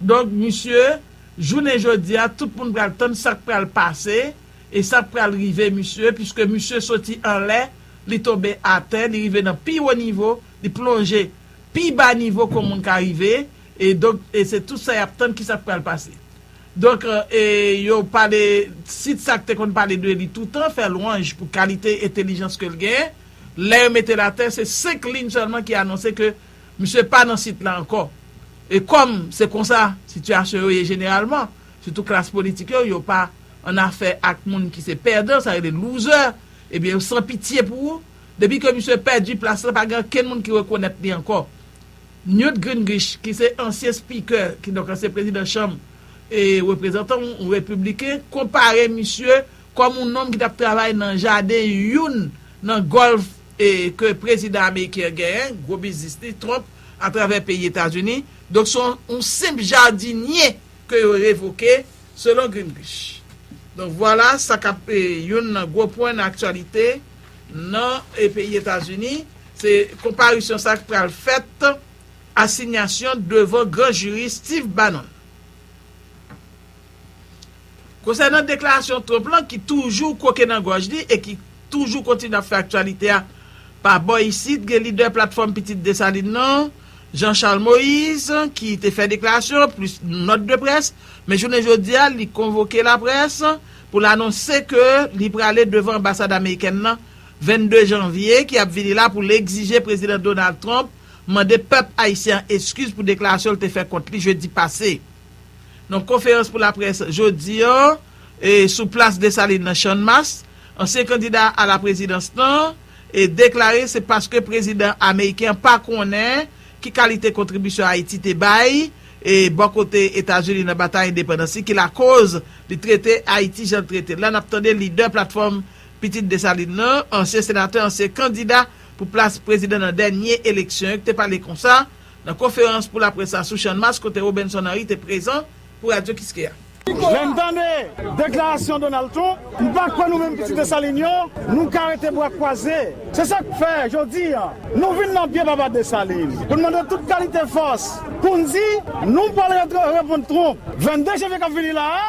Donk misye, jounen jodi a tout moun pral tann sa k pral pase e sa k pral rive misye piske misye soti anlè, li tonbe atè, li rive nan pi wo nivo, li plonje pi ba nivo ke w moun ka rive e donk e se tout sa y ap tann ki sa k pral pase. Donk e yo pale sit sa k te konn pale de li toutan, fè lwanj pou kalite entelijans ke l gen, lè yo mete l atè se 5 liyn sèlman ki anonse ke Misye pa nan sit la ankò. E kòm se konsa sitiyasyon yo ye jeneralman, sitou klas politik yo, yo pa annafè ak moun ki se pèdan, sa rele loser, ebyen yo san pitye pou ou. Depi ke misye pèdi plas la, pa gen ankenn moun ki rekonèt li ankò. Newt Gingrich ki se ansyen spikè, kidonk ansyen prezidan chanm reprezantan, yon repibliken, konpare misye kòm yon nonm ki t ap travay nan jaden youn nan gòlf ke prezidan ameriken an genyen, gwo biznis li, Trump, atravè peyi Etazini. Donk se yon senp jadinye ke yo revoke, selon Gingrich. Donk vwala sa kap youn nan gwo pwen nan aktyalite nan peyi Etazini, se konparisyon sa ki pral fèt, asinyasyon devan gran jiri Steve Bannon. Konsènan deklarasyon Trump lan ki toujou kwoke nan gòj li e ki toujou kontinye ap fè aktyalite a, pa bò isit gen lidè Platfòm Pitit Desalin nan, Jean Charles Moïse, ki te fè deklarasyon plis nòt de près, men jounen jodi a li konvoke laprès pou l anonse ke li prale devan anbasad amerikèn nan 22 janvye ki ap vini la pou l egzije Prezidan Donald Trump mande pèp ayisyen an eskiz pou deklarasyon l te fè kont li jedi pase. Nan konferans pou laprès jodi an sou plas Desalin nan Channmas, ansyen kandida a la prezidans lan deklare se paske prezidan ameriken an pa konnen ki kalite kontribisyon Ayiti te bay bò kote Etazini nan batay endepandans li ki lakoz li trete Ayiti jan l trete l la. N ap tande lidè Platfòm Pitit Desalin lan, ansyen senatè, ansyen kandida pou plas prezidan nan dènye eleksyon yo ki te pale konsa. Nan konferans pou laprès la sou Channmas kote Robinson Henry te prezan pou Radio Kiskeya. Lè m tande deklarasyon Donald Trump, m pa kwè nou menm pitit Desalin yo, nou ka rete bra kwaze. Se sa k fè, jodi a, nou vin nan pye papa Desalin pou n mande tout kalite fòs pou n di nou pral reponn Trump 22 janvye k ap vini la a.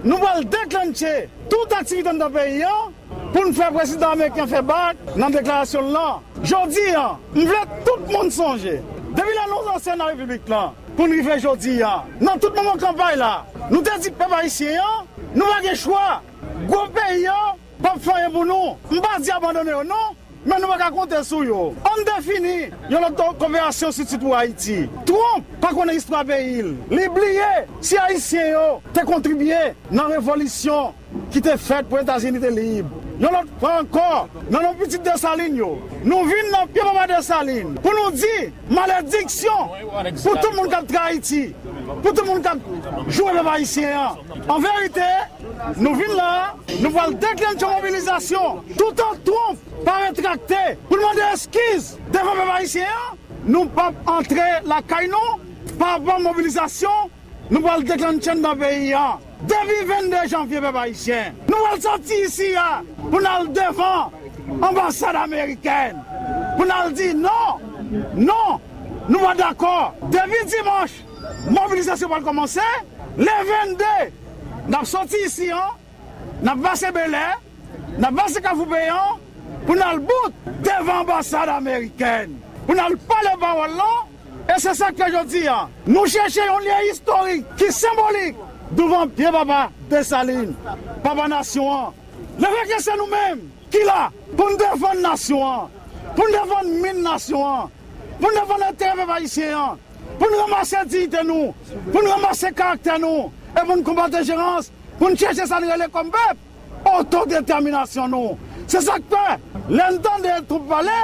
Nou pral deklentche tout aktivite anndan peyi an pou n fè prezidan ameriken fè bak nan deklarasyon l lan. Jodi a, m vle tout moun sonje, depi lè nou ranse nan Repiblik lan pou n rive jodi a, nan tout moman kanpay la, nou te di pèp ayisyen an, nou pa gen chwa, gwo peyi an Pap fanyen pou nou. M pa di abandone yo non, men nou pa ka konte sou yo. An n defini yon lòt koperasyon sitou pou Ayiti. Trump pa konnen istwa peyi l. Li bliye si Ayisyen yo te kontribye nan revolisyon ki te fèt pou Etazini te lib. Yon lòt fwa ankò, nan non pitit Desalin yo, nou vin nan pye papa Desalin pou nou di malediksyon pou tout moun k ap trayi ti, pou tout moun k ap joure pèp Ayisyen an. An verite. Nou vin la a, nou pral deklennche mobilizasyon toutan Trump pa retrakte pou l mande eskiz devan pèp ayisyen an. Nou p ap antre lakay nou pa avan mobilizasyon nou pral deklennche anndan peyi a depi 22 janvye pèp ayisyen. Nou pral sòti isi a pou n al devan anbasad amerikèn pou n al di non, non, nou pa dakò depi dimanch. Mobilizasyon pral kòmanse le 22, n ap sòti isi an, n ap pase Belè, n ap pase Kafou Peyan pou n al bout devan anbasad amerikèn pou n al pale pawòl lan e se sa k fè jodi a nou chèche yon lye istorik ki senbolik douvan pye papa Desalin, papa nasyon an. Le fè ke se nou menm ki la pou n defann nasyon an, pou n defann min nasyon an, pou n defann enterè pèp ayisyen an. Pou n ranmase diyite nou, pou n ranmase karaktè nou e pou n konbat enjerans, pou n chèche sa n rele kòm pèp, otodetèminasyon nou. Se sa k fè, lè n tande Trump pale,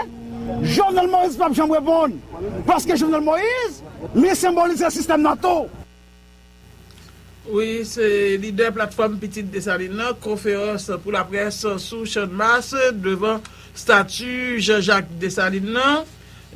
Jovenel Moïse p ap janm reponn. Paske Jovenel Moïse, li senbolize sistèm nan tou. Wi, se lidè Platfòm Pitit Desalin lan, Konferans pou Laprès sou Channmas devan stati Jean Jacques Dessalines lan.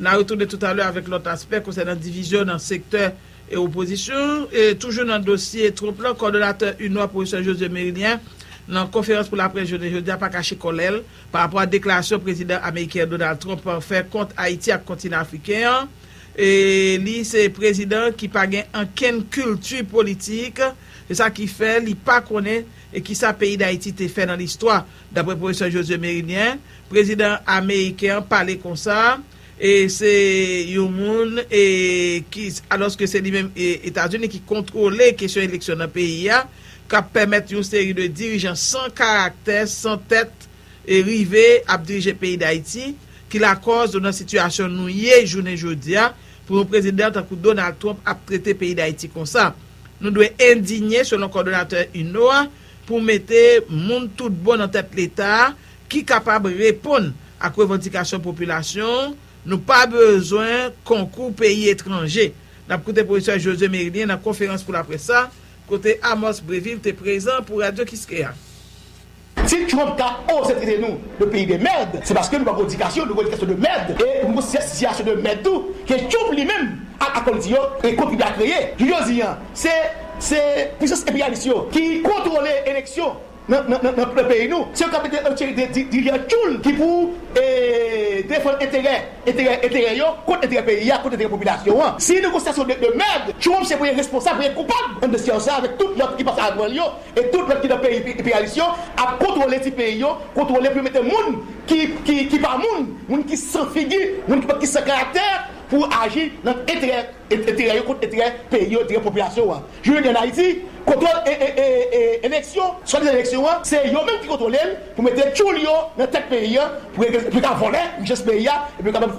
N a retounen toutalè avèk lòt aspè konsènan divizyon nan sektè e opozisyon. Toujou nan dosye Trump lan, kòdonatè UNNOH, Pwofesè Josué Mérilien, nan konferans pou laprès jounen jodi a pa kache kòlè l parapò a deklarasyon prezidan ameriken Donald Trump fè kont Ayiti ak kontinan afriken an. Li se prezidan ki pa gen ankenn kilti politik, se sa ki fè li pa konnen ki sa peyi Dayiti te fè nan listwa. Dapre pwofesè Josué Mérilien, prezidan ameriken an pale konsa, se yon moun ki, alòske se li menm, Etazini ki kontwole kesyon eleksyon nan peyi a, k ap pèmèt yon seri de dirijan san karaktè, san tèt, e rive ap dirije peyi Dayiti ki lakòz nou nan sitiyasyon nou ye jounen jodi a pou yon prezidan tankou Donald Trump ap trete peyi Dayiti konsa. Nou dwe endinye selon kòdonatè UNNOH a pou mete moun tout bon nan tèt leta a ki kapab reponn ak revandikasyon popilasyon nou pa bezwen konkou peyi etranje. N ap koute pwofesè Josué Mérilien nan konferans pou laprès sa kote Amos Brévil te prezan pou Radio Kiskeya. Si Trump ta oze trete nou de peyi de merd se paske nou pa gon edikasyon, nou gon edikasyon de merd e nou gon siyasyon de merd tou ke Trump li menm ak akòl li di yo e kontribye a kreye. Jou jodi an se se pwisans enperyalis yo ki kontwole eleksyon nan peyi nou, se yo kap mete yon seri de dirijan tchoul ki pou e defann enterè enterè enterè yo kont enterè peyi a, kont enterè popilasyon an. Si nou gon siyasyon de merd, Trump se premye responsab, premye koupab anndan siyasyon sa avèk tout lòt ki pase avan li yo E tout lòt ki nan peyi enperyalis yo ap kontwole ti peyi yo, kontwole pou yo mete moun ki pa moun, moun ki san figi, moun ki san karaktè pou aji nan enterè yo kont enterè peyi yo, enterè popilasyon an. Jounen jodi an Ayiti, kontwòl eleksyon, swadizan eleksyon an, se yo menm ki kontwole l. Pou mete tchoul yo nan tèt peyi an pou yo ka vòlè richès peyi a epi yo kapab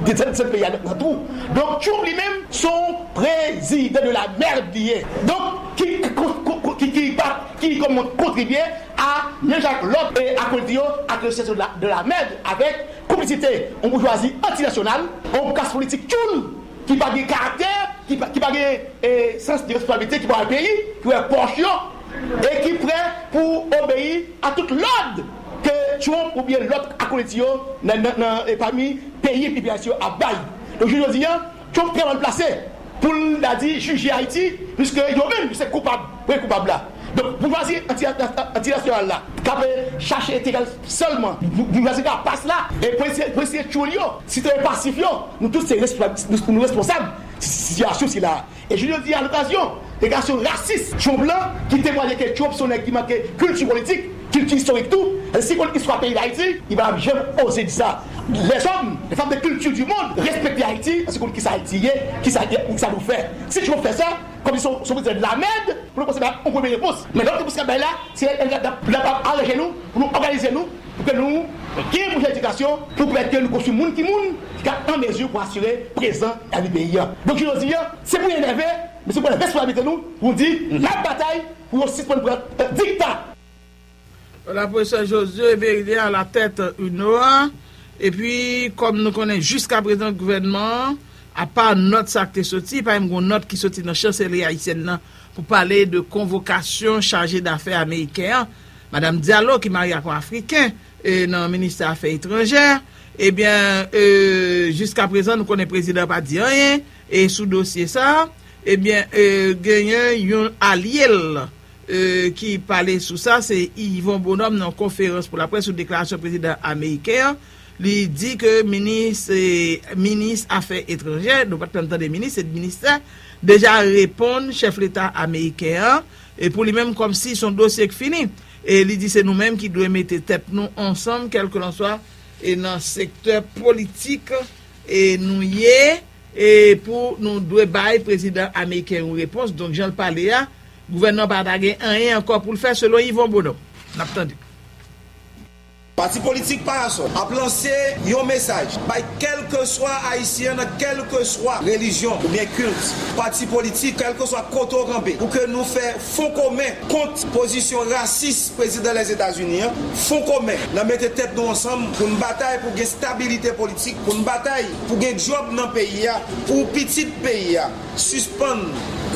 desann peyi a nan twou donk Trump li menm son prezidan de la merde li ye donk ki kòmn kontribye a menm jan ak lòt akolite yo ak yon sitiyasyon de la merde avèk konplisite yon boujwazi anti nasyonal yon klas politik tchoul ki pa gen karaktè ki pa gen sans de responsablite ki pa wè peyi ki wè pòch yo. e ki prè pou obeyi a tout lòd ke Trump oubyen lòt akolèt li yo nan nan pami peyi enpeyalis yo ap bay. Donk jounen jodi a, Trump trè mal plase pou l ta di jije Ayiti puiske yo menm se koupab premye koupab la. Donk boujwazi anti-nasyonal la k ap chache enterè l sèlman, boujwazi rapas la e polisye tchoul yo, sitwayen pasif yo, nou tout se responsab, nou responsab sitiyasyon sila a. E jouk jodi a alokazyon deklarasyon rasis Trump lan ki temwaye ke Trump se yon nèg ki manke kilti politik, kilti istorik tou, paske si l konn istwa peyi Dayiti, li pa tap janm oze di sa. Lèzòm, lèfanm de kilti di mond respekte Ayiti paske yo konn kisa Ayiti ye, kisa li ye, kisa nou fè. Si Trump fè sa, kòmsi se yon prezidan lamèd pou nou kòmanse bay yon premye repons. Men lòt repons kap bay la, se lè l di lap aranje nou pou nou òganize nou, Pou ke nou gen pwojè edikasyon pou pèmèt ke nou konstwi moun ki moun ki ka an mezi pou asire prezan e avni peyi a. Donk jounen jodi a, se pou nou enève, men se pou pran responsablite nou pou nou di n ap batay pou yo sispann pran dikta. Laprofesè Josué Verilien a la tèt UNOA, epi kòm nou konnen jiska prezan gouvènman an, apa nòt sa k te soti, pa menm gen yon nòt ki soti nan Chanselri ayisyèn nan pou pale de konvokasyon chaje dafè ameriken an. Madam Diallo ki marye ak yon Afriken nan ministè afè etranjè, ebyen jiska prezan nou konnen prezidan pa di anyen sou dosye sa, ebyen genyen yon alye l ki pale sou sa se Yvon Bonhomme nan konferans pou laprès sou deklarasyon prezidan ameriken an, li di ke minis minis afè etranjè, nou pat menm tande minis se ministè, deja reponn chèf leta ameriken an E pou li menm kòmsi son dosye k fini e li di se nou menm ki dwe mete tèt nou ansanm kèlkelanswa e nan sektè politik e nou ye e pou nou dwe bay prezidan ameriken yon repons donk jan l pale a gouvènman pa ta gen anyen ankò pou l fè selon Yvon Bonhomme n ap tande. Pati politik Parasol ap lanse yon mesaj bay kèlkeswa Ayisyen nan kèlkeswa relijyon oubyen kilt, pati politik, kèlkeswa kote w kanpe pou ke nou fè fon komen kont pozisyon rasis Prezidan Lèzetazini an, fon komen nan mete tèt nou ansanm pou n batay pou gen stabilite politik, pou n batay pou gen djòb nan peyi a, pou pitit peyi a. Sispann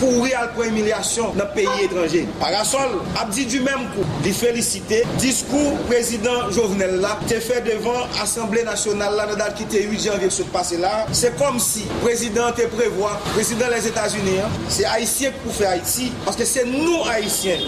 kouri al pran imilyasyon nan peyi etranje. Parasol ap di du menm kou li felisite diskou prezidan Jovenel la te fè devan asanble nasyonal la nan dat ki te 8 janvye k sot pase la, se kòmsi prezidan an te prevwa prezidan Lèzetazini an, se ayisyen k pou fè Ayiti paske se nou ayisyen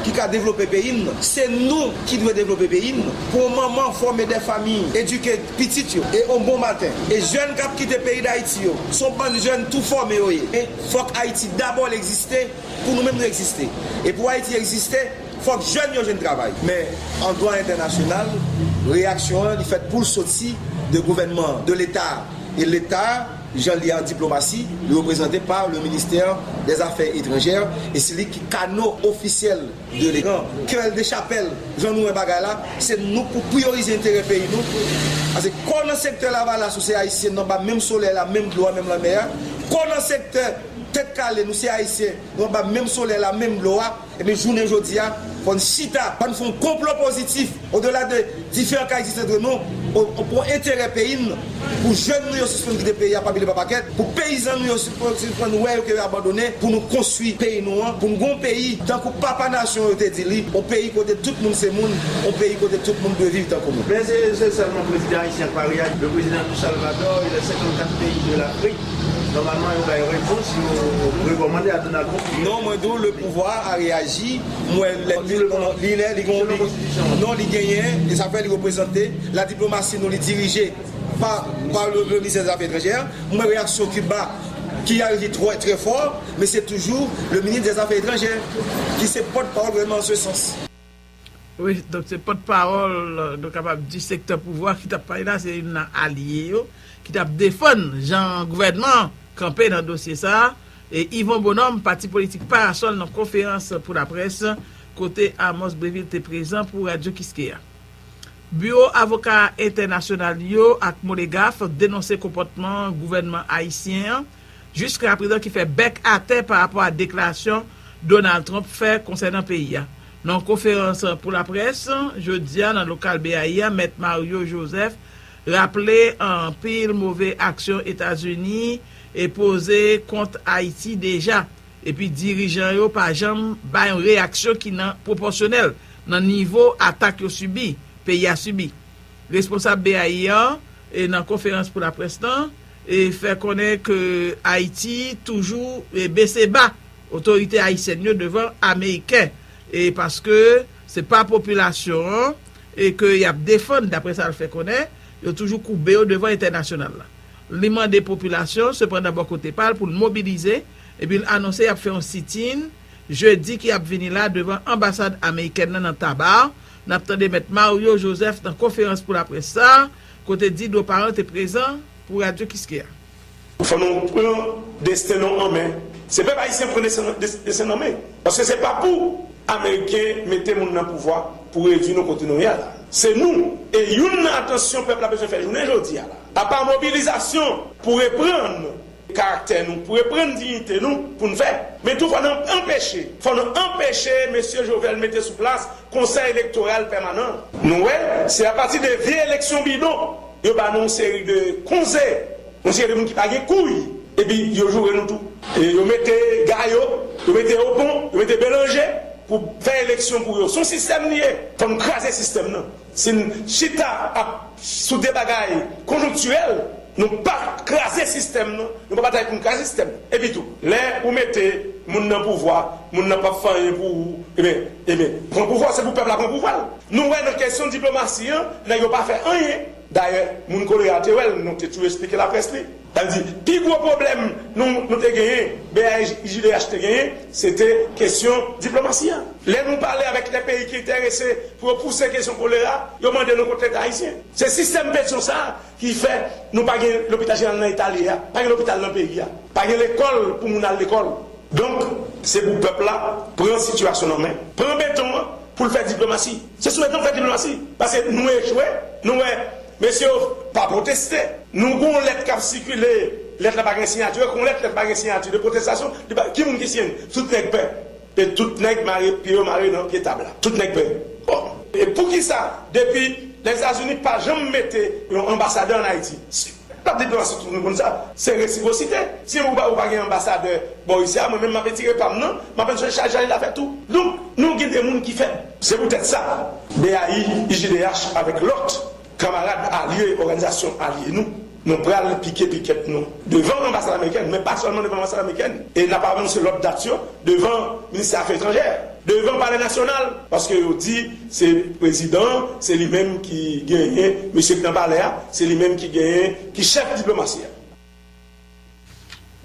ki ka devlope peyi n, se nou ki dwe devlope peyi n, pou yon manman fòme 2 famiy, edike. pitit yo e on bon maten e jèn kap kite peyi dayiti yo son bann jèn tou fòme yo ye fòk ayiti dabò l egziste pou nou menm nou egziste e pou ayiti egziste fòk jèn yo jwenn travay men an dwa entènasyonal reyaksyon an li fèt poul soti de gouvènman an de leta a e leta a jan li an diplomasi li reprezante pa le ministè dè zafè etranjè e se li ki kano ofisyèl. Delegan Kerel Dechapel, jan nou wè bagay la, se nou pou priyorize enterè peyi nou, pase kò nan sektè lavalas ou se ayisyen nou anba menm solèy la, menm dlo a, menm lanmè a, kò nan sektè tèt kale nou se ayisyen nou anba menm solèy la, menm dlo a, ebyen jounen jodi a fò n chita, ann fon konplo pozitif. Odela de diferan ka egziste entre nou, pou enterè peyi n, pou jèn nou yo sispann kite peyi a pa pile pa pakèt, pou peyizan nou yo sispann wè yo ke yo abandone, pou nou konstwi peyi nou an, pou n gen yon peyi, tankou papa nasyon yo te di li, yon peyi kote tout moun se moun, yon peyi kote tout moun dwe viv tankou moun. Men se se sèlman prezidan ayisyen k pa reyaji. Le prezidan du Salvador et les 54 pays de l'Afrique nòmalman yo bay repons yo rekòmande a Donald Trump. Non, mwen di w le pouvwa a reyaji. M wè l lèd tou non li lè li gon non li genyen e sa fè li reprezante la diplomasi nou li dirije pa pa le minisè zafè etranjè m wè reyaksyon kiba ki al ki trò trè fò men se toujou le minis dè zafè etranjè ki se pòt pawòl gouvènman an se sans. Wi donk se pòt pawòl nou kapab di sektè pouvwa ki t ap pale la se youn nan alye yo ki t ap defann jan gouvènman an kanpe nan dosye sa Yvon Bonhomme, pati politik Parasòl nan konferans pou laprès kote Amos Brevil te prezan pou Radyo Kiskeya. Biwo avoka entènasyonal yo ak Molegaf denonse konpòtman gouvènman ayisyen an jiskaprezan ki fè bèk atè pa rapò a deklarasyon Donald Trump fè konsènan peyi a. Nan yon konferans pou laprès jodi a nan lokal BAI a, Mèt Mario Joseph Raple anpil move aksyon Etazini poze kont Ayiti deja, epi dirijan yo pa janm bay yon reyaksyon ki nan pwopòsyonèl nan nivo atak yo sibi, peyi a sibi. Responsab BAI an nan konferans pou laprès lan fè konnen ke Ayiti toujou bese ba otorite ayisyèn yo devan ameriken paske. Se pa popilasyon an ke y ap defann, dapre sa l fè konnen, yo toujou koube yo devan entènasyonal la. Li mande popilasyon, sepandan bò kote pa l, pou l mobilize, epi l anonse y ap fè yon sit-in jedi ki ap vini la devan anbasad amerikèn nan nan Taba. N ap tande mèt Mario Joseph nan konferans pou laprès sa a, kote Didro Parent te prezan pou Radio Kiskeya. Fò nou pran desten nou an men. Se pèp ayisyen pran desten nou an men. Paske se pa pou ameriken mete moun nan pouvwa pou redwi nou kote nou ye a la. Se nou. E youn nan atansyon pèp la bezwen fè jounen jodi a la. Apa mobilizasyon pou reprann karaktè nou, pou reprann diyite nou pou n fè. Men tou fò nou anpeche. Fò nou anpeche mesye Jovenel mete sou plas konsèy elektoral pèmanan. Nou wè, se apati de vye eleksyon bidon. Yo ba nou yon seri de konze, yon seri de moun ki pa gen kouy, epi yo joure nou tou. Yo mete Gayo, yo mete Opon, yo mete Belanje pou fè eleksyon pou yo. Son sistèm li ye. Fò n kraze sistèm nan. Si n chita ap sou de bagay konjonktirèl, nou pa kraze sistèm nan, nou pa batay pou n kraze sistèm nan. Epi tou, lè ou mete moun nan pouvwa, moun nan p ap fè anyen pou ou, eben, eben, pran pouvwa w, se pou pèp la pran pouvwa l. Nou wè nan kesyon diplomasi an, nèg yo pa fè anyen. Dayè, moun Kolera te wè l, nou te tou esplike laprès li. Sa vle di, pi gwo pwoblèm nou nou te genyen, BAJDH te genyen, se te kesyon diplomasi an. Lè nou pale avèk lè peyi ki enterese pou yo pouse kesyon kolera, yo mande nou kot Leta ayisyen. Se sistèm Petion sa a ki fè nou pa gen lopital jeneral nan eta li a, pa gen lopital nan peyi a, pa gen lekòl pou moun al lekòl. Donk, se pou pèp la pran sitiyasyon nan men, pran beton an. pou l fè diplomasi se sou egzanp fè diplomasi paske nou echwe nou wè mesye yo pa pwoteste nou gen yon lèt k ap sikile lèt la pa gen siyati yo kon lèt lèt pa gen siyati de pwotestasyon li pa ki moun ki siyen l tout nèg pè e tout nèg mare pye yo mare nan pye tab la tout nèg pè bon e poukisa depi Lèzetazini pa janm mete yon anbasadè ann Ayiti. Pap di plas ou tou nou konn sa. Se resiprosite. Si ou pa ou pa gen anbasadè bò Russia mwen menm map etire pam nan map al jwenn chaj Janil afè tou. Donk nou gen de moun ki fèb. Se pou tèt sa BAI, IJDH avèk lòt kamarad alye òganizasyon alye nou, nou pral pike pikèt nou devan anbasad amerikèn men pa sèlman devan anbasad amerikèn e nap anonse lòt dat yo devan ministè afè etranjè, devan palè nasyonal paske yo di Se prezidan an, se li menm ki genyen mesye k nan palè a, se li menm ki genyen, ki chèf diplomasi a.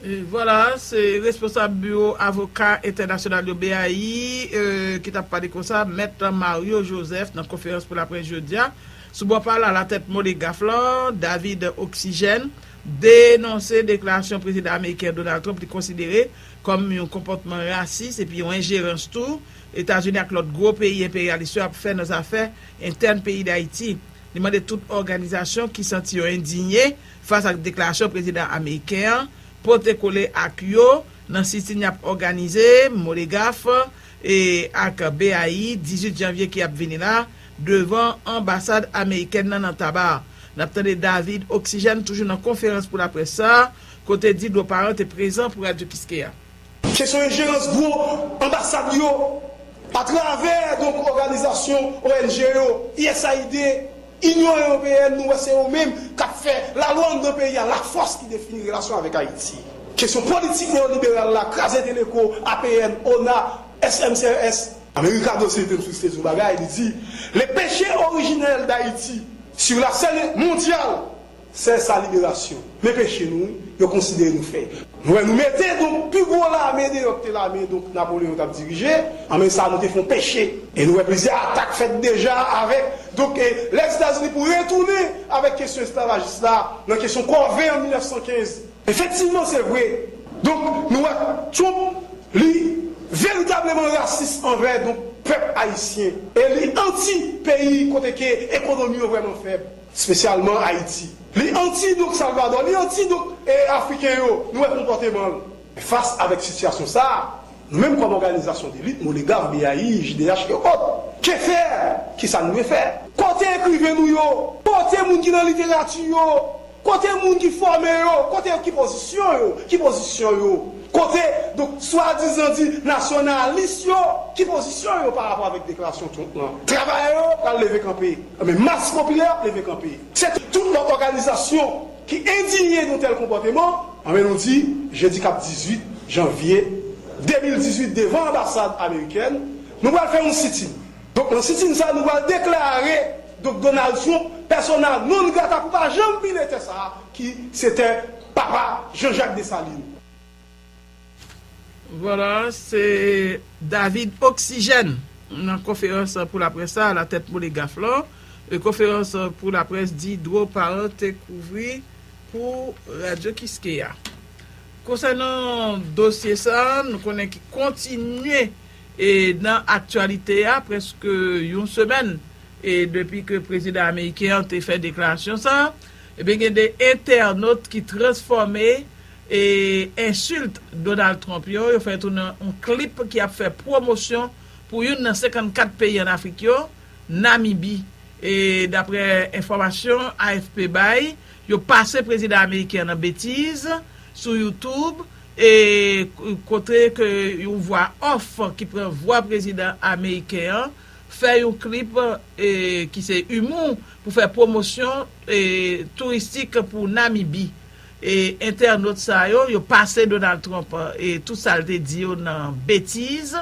Vwala, se responsab biwo avoka entènasyonal yo, BAI, ki t ap pale konsa, mèt Mario Joseph nan konferans pou laprès jodi a. Sou bò pa l, alatèt Moleghaf lan, David Oxygène, denonse deklarasyon prezidan ameriken Donald Trump li konsidere kòm yon konpòtman rasis epi yon enjerans tou, Etazini ak lòt gwo peyi enperyalis yo ap fè nan zafè entèn peyi Dayiti. Li mande tout òganizasyon ki santi yo endinye fas ak deklarasyon prezidan ameriken an pote kole ak yo nan sitin y ap òganize, Molegaf, e ak BAI, 18 janvye ki ap vini la, devan anbasad amerikèn nan nan Taba. N ap tande David Oxygène toujou nan konferans pou laprès sa a, kote Didro Parent te prezan pou Radio Kiskeya. Kesyon enjerans gwo anbasad yo atravè donk òganizasyon ong yo, usaid, Inyon Ewopeyèn, nou wè se yo menm k ap fè lalwa anndan peyi a, lafòs ki defini relasyon avèk Ayiti. Kesyon politik neyoliberal la, kraze Teleco, APN, ona, SMCRS. America Dossier te nsiste sou bagay, li di, Le péché originel d'Haïti sur la scène mondiale, Sè sa liberasyon. Men peche nou wi, yo konsidere nou fè. Nou wè nou mete donk pi gwo lame deyò ki te lame donk Napoleon tap dirije an men sa nou te fon peche. E nou wè plizyè atak fèt deja avèk donk e lè Etazini pou retounen avèk kesyon esklavajis la nan kesyon kòve an 1915. Efektivman se vre. Donk nou wè Trump li veritableman rasis anvè donk pèp ayisyen e li anti peyi kote ke ekonomi yo vrèman fèb. Spesyalman Ayiti. Li anti donk Salvadò, li anti donk Afriken yo, nou wè konpòteman l. Fas avèk sitiyasyon sa a, nou menm kòm òganizasyon delit, Moleghaf, BAI, JDH e ot. Ke fè? Ki sa nou dwe fè? Kote ekriven nou yo? Kote moun ki nan literati yo? Kote moun ki fòme yo? Kote yo? Ki pozisyon yo? Ki pozisyon yo? Kote donk swadizan di nasyonalis yo? Ki pozisyon yo pa rapò avèk deklarasyon Trump lan? Travayè yo pral leve kanpe, men mas popilè ap leve kanpe. Se tout lòt òganizasyon ki endinye yon tèl konpòteman, anben nou di jedi kap 18 janvye 2018 devan anbasad amerikèn, nou pral fè yon sitin. Donk nan sitin sa nou pral deklare donk Donald Trump persona non grata pou pa janm pile tè sa a. ki se tè papa Jean Jacques Dessalines. Vwala, se David Oxygène nan konferans pou laprès sa alatèt Moleghaf lan. Konferans pou laprès Diderot Parent te kouvri pou Radyo Kiskeya. Konsènan dosye sa, nou konnen ki kontinye nan aktyalite a prèske yon semèn depi ke prezidan ameriken an te fè deklarasyon sa. Ebyen gen de entènot ki transfòme ensilt Donald Trump yo, yo fè tounen yon klip ki ap fè pwomosyon pou youn nan 54 peyi an Afrik yo, Namibi. E daprè enfòmasyon AFP bay, yo pase prezidan ameriken an nan betiz sou YouTube e kote ke yon vwa off ki pran vwa prezidan ameriken an. fè yon klip ki se imou pou fè pwomosyon touristik pou Namibi. Entènot sa yo, yo pase Donald Trump tout sa l te di yo nan betiz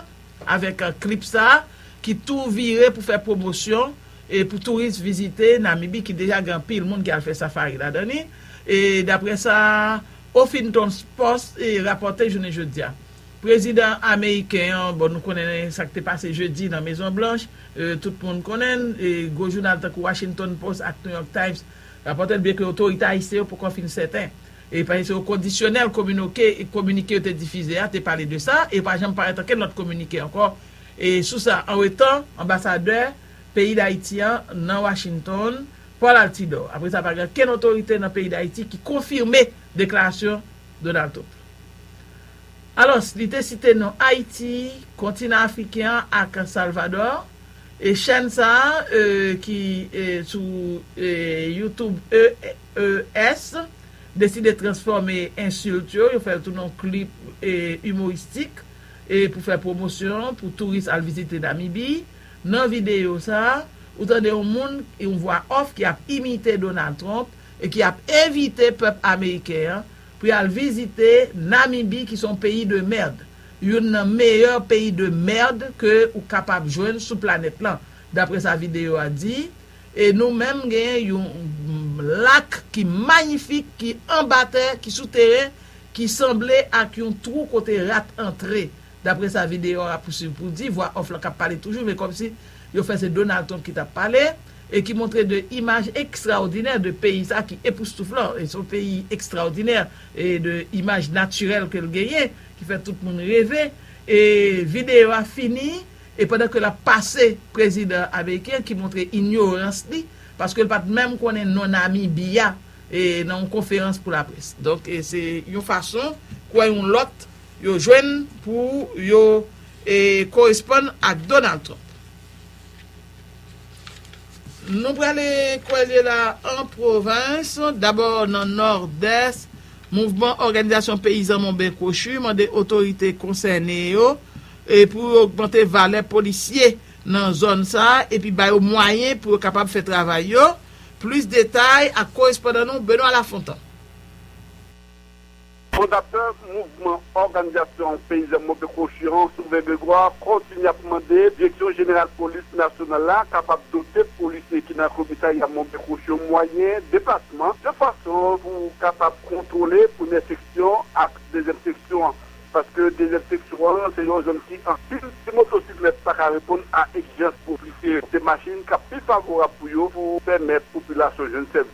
avèk klip sa ki tou vire pou fè pwomosyon pou touris vizite Namibi ki deja gen anpil moun ki al fè safari ladan li, daprè sa Huffington's Post rapòte jounen jodi a. Prezidan ameriken an, bon nou konnen sa k te pase jedi nan Mezon Blanch, tout moun konnen l, gwo jounal tankou Washington Post ak New York Times rapòte l byen ke otorite ayisyen yo poko fin sèten e paske se o kondisyonèl kominoke kominike yo te difize a te pale de sa e pa janm parèt ankenn lòt kominike ankò e sou sa. Anwetan, anbasadè peyi Dayiti an nan Washington, Paul Altidor, apre sa pa gen ankenn otorite nan peyi Dayiti ki konfime deklarasyon. Donato. Alòs, li te site non Ayiti, kontinan afriken an ak Salvadò, e chèn sa a ki sou YouTube EES deside transfòme ensilt yo, yo fè l tounen yon klip imoristik pou fè pwomosyon pou touris al vizite Namibi. Nan videyo sa a, ou tande yon moun, yon vwa off ki ap imite Donald Trump e ki ap envite pèp ameriken an pou y al vizite Namibi ki se yon peyi de merd, youn nan meyè peyi de merd ke ou kapab jwenn sou planèt lan, dapre sa videyo a di, e nou menm genyen yon lak ki mayifik ki anba tè, ki sou teren, ki sanble ak yon twou kote rat antre, dapre sa videyo a pousuiv pou di, vwa off lan k ap pale toujou men kòmsi yo fè se Donald Trump ki t ap pale. e ki montre de imaj ekstraòdinè de peyi sa ki epoustouflan, e son peyi ekstraòdinè e de imaj natirèl ke l genyen ki fè tout moun reve, e videyo a fini e pandan ke l ap pase prezidan ameriken ki montre inyorans li paske l pa t menm konnen non Namibie a e nan yon konferans pou laprès. Donk e se yon fason kwè yon lòt yo jwenn pou yo e koresponn ak Donald Trump. Nou prale kwelye la an pwovens, dabò nan Nòdès, mouvman òganizasyon peyizan Monben Kwochi mande otorite konsène yo pou yo ogmante valè polisye nan zòn sa epi ba yo mwayen pou yo kapab fè travay yo. Plis detay ak korespondan nou Benoît Lafontant. Fondatè mouvman òganizasyon peyizan Mobe Kosyon, Souven Grégoire, kontinye ap mande Direksyon Jeneral Polis Nasyonal la kapab dote polisye ki nan komisarya Mobe Kosyon mwayen deplasman yon fason pou kapab kontwole premyè seksyon ak dezyèm seksyon an paske dezyèm seksyon an se yon zòn ki anpil ti motosiklèt pa ka reponn a egzijans ofisye se machin k ap pi favorab pou yo pou pèmèt popilasyon jwenn sèvis.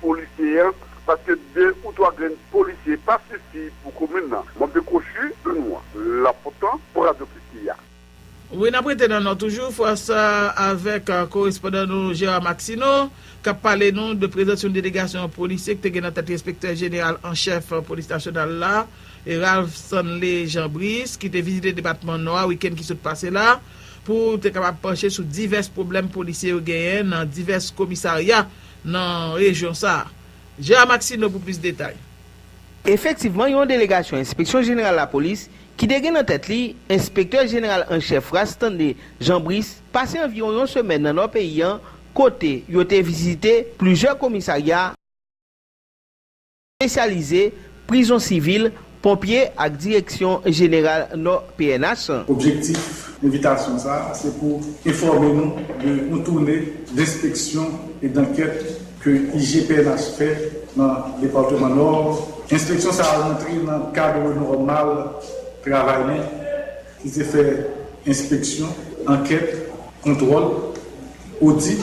polisye an paske 2 ou 3 grenn polisye pa sifi pou komin nan mwen mte kochi de nou an la potan pou radio kiki a. Wi nap rete nan nò toujou fwa sa avèk korespondan nou Gérard Maxineau kap pale nou de prezans yon delegasyon polisye ki te gen nan tèt li enspektè jeneral an chèf polis nasyonal la Ralph Stanley Jean Brice ki te vizite depatman nò a wikenn ki sot pase la pou te kapab panche sou divès pwoblèm polisye yo genyen nan divès komisarya nan rejyon sa a. Je a Maxino pou plis detay. Efektivman yon delegasyon enspeksyon jeneral lapolis ki te gen nan tèt li enspektè jeneral an chèf Rastande Jean Brice pase anviwon yon semèn nan nò peyi an kote yo te vizite plizyè komisarya, espesyalize, prizon sivil, ponpye ak direksyon jeneral nò pnh. Objektif envitasyon sa a se pou enfòme nou de yon toune denspeksyon e dankèt ke IG pnh fè nan departeman nò. Enspeksyon sa a rantre nan kadre nòmal travay nou ki se fè enspeksyon, ankèt, kontwòl, odit.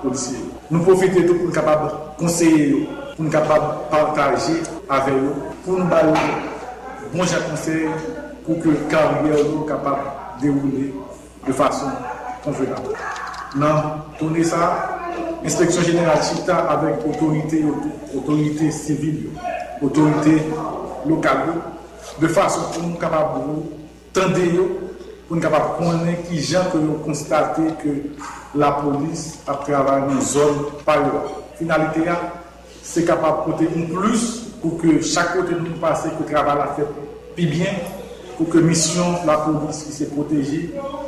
Polisye yo. Nou pwofite tou pou n kapab konseye yo, pou n kapab pataje avè yo, pou n ba yo bon jan konsèy pou ke karyè yo kapab dewoule de fason konvenab. Nan toune sa a, Enspeksyon Jeneral chita avèk otorite yo tou, otorite sivil yo, otorite lokal yo, de fason pou nou kapab. Tande yo pou n kapab konnen ki jan ke yo konstate ke lapolis ap travay nan zòn pa yo a. Finalite a, se kapab pote yon plis pou ke chak kote nou pase ke travay la fèt pi byen, pou ke misyon lapolis ki se pwoteje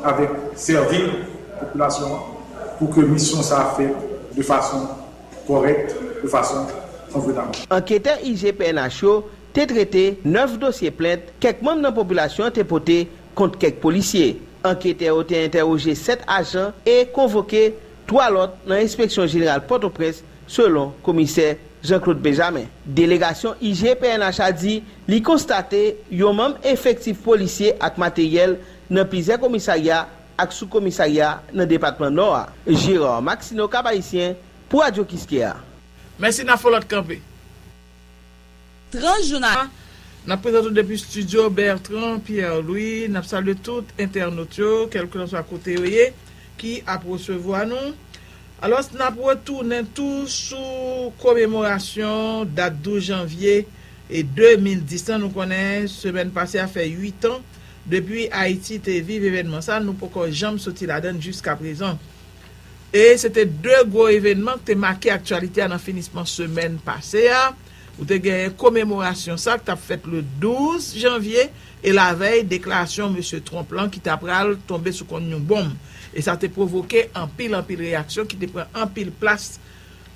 avèk sèvi popilasyon an, pou ke misyon sa fèt de fason kòrèk, de fason konvenab. Anketè IGPNH yo te trete 9 dosye plent kèk manm nan popilasyon an te pote kont kèk polisye. Anketè yo te entèwoje 7 ajan e konvoke 3 lòt nan enspeksyon jeneral Pòtoprens, selon komisè Jean Claude Benjamin. Delegasyon IG pnh a di li konstate yon manm efektif polisye ak materyèl nan plizyè komisarya ak sou komisarya nan depatman Nò a. Gérard Maxineau, Cap-Haïtien, pou Radio Kiskeya. Mèsi na folot kanpe. 30 jou nan. Nap prezante w depi studio Bertrand Pierre Louis nap salye tout entènot yo kèlkilanswa kote yo ye ki ap resevwa nou alòs nap retounen tou sou komemorasyon dat 12 janvye 2010 lan nou konnen semèn pase a fè 8 an depi Ayiti te viv evènman sa nou poko janm soti ladann jiskaprezan. E se te 2 gwo evènman k te make aktyalite a nan finisman semèn pase a, ou te genyen komemorasyon sa k t ap fèt le 12 janvye e lavèy deklarasyon mesye Trump lan ki ta pral tonbe sou konn yon bonm e sa te pwovoke anpil anpil reyaksyon ki te pran anpil plas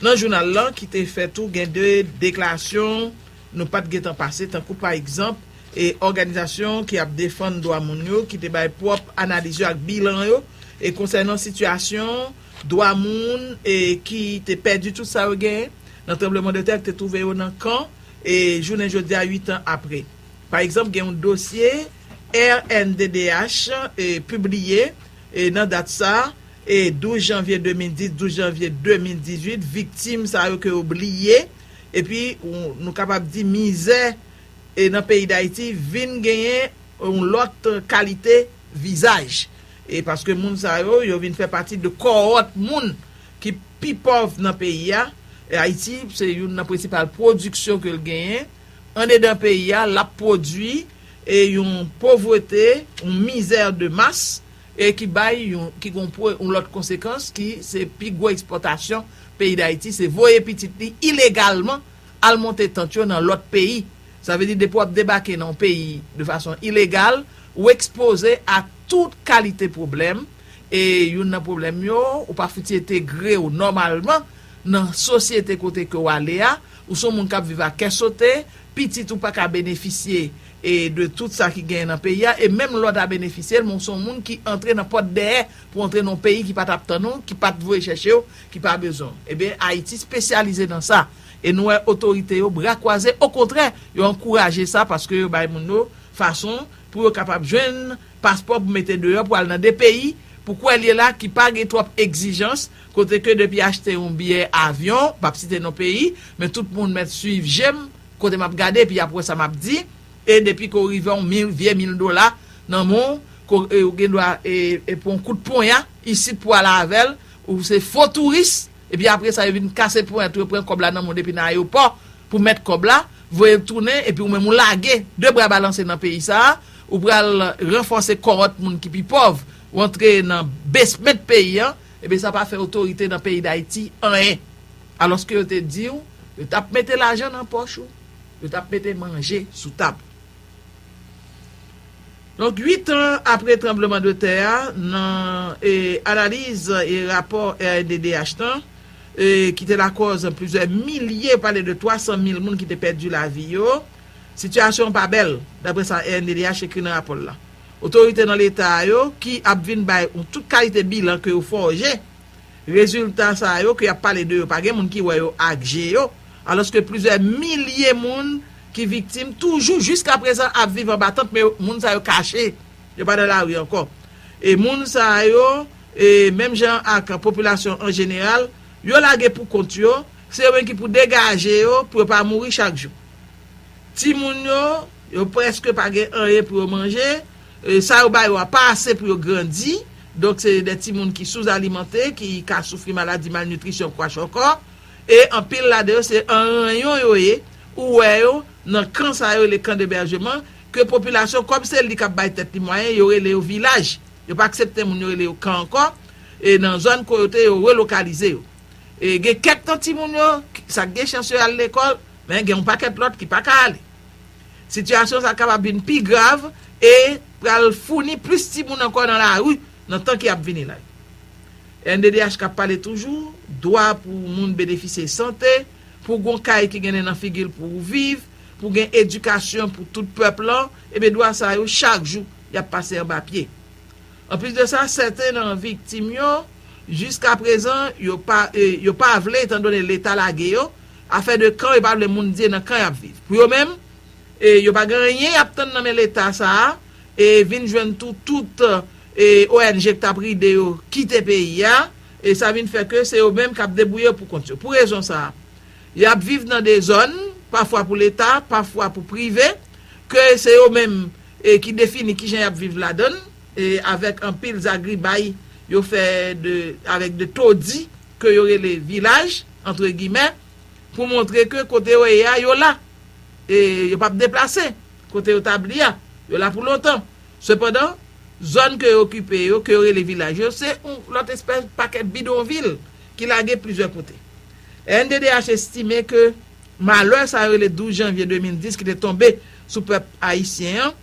nan jounal lan ki te fè tou gen 2 deklarasyon nou pa t gentan pase tankou pa egzanp e òganizasyon ki ap defann dwa moun yo ki te bay pwòp analiz yo ak bilan yo e konsènan sitiyasyon dwa moun e ki te pèdi tout sa yo genyen nan tranbleman de tè ki te twouve yo nan kan e jounen jodi a 8 an apre. Pa egzanp gen yon dosye rnddh e pibliye e nan dat sa e 12 janvye 2010 12 janvye 2018 viktim sa yo ke yo bliye epi nou kapab di mizè e nan peyi dayiti vin genyen yon lòt kalite vizaj e paske moun sa yo yo vin fè pati de kòhòt moun ki pi pòv nan peyi a e ayiti se youn nan prensipal pwodiksyon ke l genyen andedan peyi a l ap pwodwi e yon povrete yon mizè de mas e ki bay yon ki gon pwo yon lòt konsekans ki se pi gwo ekspòtasyon peyi dayiti se voye pitit li ilegalman. al monte tant yo nan lòt peyi. Sa vle di depi w ap debake nan yon peyi de fason ilegal, ou ekspoze a tout kalite pwoblèm e youn nan pwoblèm yo, ou pa fouti entegre w nòmalman nan sosyete kote ke w ale a, ou son moun k ap viv a kè sote, pitit ou pa ka benefisye e de tout sa ki genyen nan peyi a e menm lè w ta benefisye l men w son moun ki antre nan pòt dèyè pou w antre nan yon peyi ki pa t ap tann ou, ki pa t voye chèche w, ki pa bezwen w ebyen Ayiti spesyalize nan sa e nou wè otorite yo bra kwaze okontrè yo ankouraje sa paske yo bay moun yo fason pou yo kapab jwenn paspò pou mete deyò pou al nan de peyi pou kwè l ye la ki pa gen twòp egzijans kote ke depi achte yon biyè avyon m pap site non peyi men tout moun mèt swiv je m kote m ap gade epi y ap wè sa m ap di e depi ke w rive yon mil vye mil dola nan men w ke w gen dwa e pran yon kout ponya isit pou w al avè l Ou se fo touris, epi apre sa yo vin kase ponyèt ou, yo pran kòb la nan men w depi nan ayewopò, pou mèt kòb la, voye l tounen, epi ou menm ou lage, de bra balanse nan peyi sa a, ou pral ranfòse kòhòt moun ki pi pòv, ou antre nan besment peyi an, ebyen sa pa fè otorite nan peyi Dayiti anyen. Alòske yo te di w, yo t ap mete lajan nan pòch ou, yo t ap mete manje sou tab ou. Donk 8 an apre tranbleman de tè a nan e analiz e rapò rnddh nan e ki te lakòz plizyè milye pale de 300 mil moun ki te pèdi lavi yo sitiyasyon an pa bèl daprè sa rnddh ekri nan rapò l la. Otorite nan leta a yo ki ap vin bay yon tout kalite bilan ke yo fòje. Rezilta sa yo ke y ap pale de yo pa gen moun ki wè yo ak je yo, alòske plizyè milye moun ki viktim toujou jiskaprezan ap viv anba tant men moun sa yo kache, yo pa nan lari ankò. E moun sa yo, menm jan ak popilasyon an jeneral, yo lage pou kont yo, se yo menm ki pou degaje yo pou yo pa mouri chak jou. Timoun yo, yo prèske pa gen anyen pou yo manje, Sa yo ba yo a pa ase pou yo grandi, donk se de timoun ki souzalimante, ki ka soufri maladi malnitrisyon, kwachòkò, e anpil ladan yo se an ranyon yo ye, ou wè yo nan kan sa yo rele kan deberjeman, ke popilasyon, kòm se li k ap bay tèt li mwayen, yo rele yo vilaj, yo pa aksepte moun yo rele yo kan ankò, e nan zòn ko yo te yo relokalize yo. E gen kèk nan timoun yo, sa k gen chans yo al lekòl, men gen yon pakèt lòt ki pa ka ale. Sitiyasyon sa kapab vin pi grav e pral founi plis timoun ankò nan lari nan tan ki ap vini la. Rnddh kap pale toujou, dwa pou moun benefisye sante, pou gon kay ki gen nen nan figi l pou ou viv, pou gen edikasyon pou tout pèp lan, ebyen dwa sa yo chak jou yap pase anba pye. Anplis de sa, sèten nan viktim yo jiska prezan yo pa vle etan done leta lage yo, Afè de kan yo pa vle moun di e nan kan yap viv. Pou yo menm e yo pa gen anyen yap tann nan men leta sa a e vin jwenn tou tout e ong k tap ride yo kite peyi a e sa vin fè ke se yo menm kap debouye yo pou kont yo. Pou rezon sa a yap viv nan dezòn pafwa pou leta pafwa pou prive ke se yo menm e ki defini kijan yap viv ladann e avèk anpil zagribay yo fè de avèk de todi. ke yo rele vilaj, antre gimè, pou montre ke kote yo ye a, yo la. E yo p ap deplase. Kote yo tabli a, yo la pou lontan. Sepandan, zòn ke yo okipe yo, ke yo rele vilaj yo, se yon lòt espès pakèt bidonvil ki lage plizyè kote. Rnddh estime ke malè sa yo rele 12 janvye 2010 ki te tonbe sou pèp ayisyen an,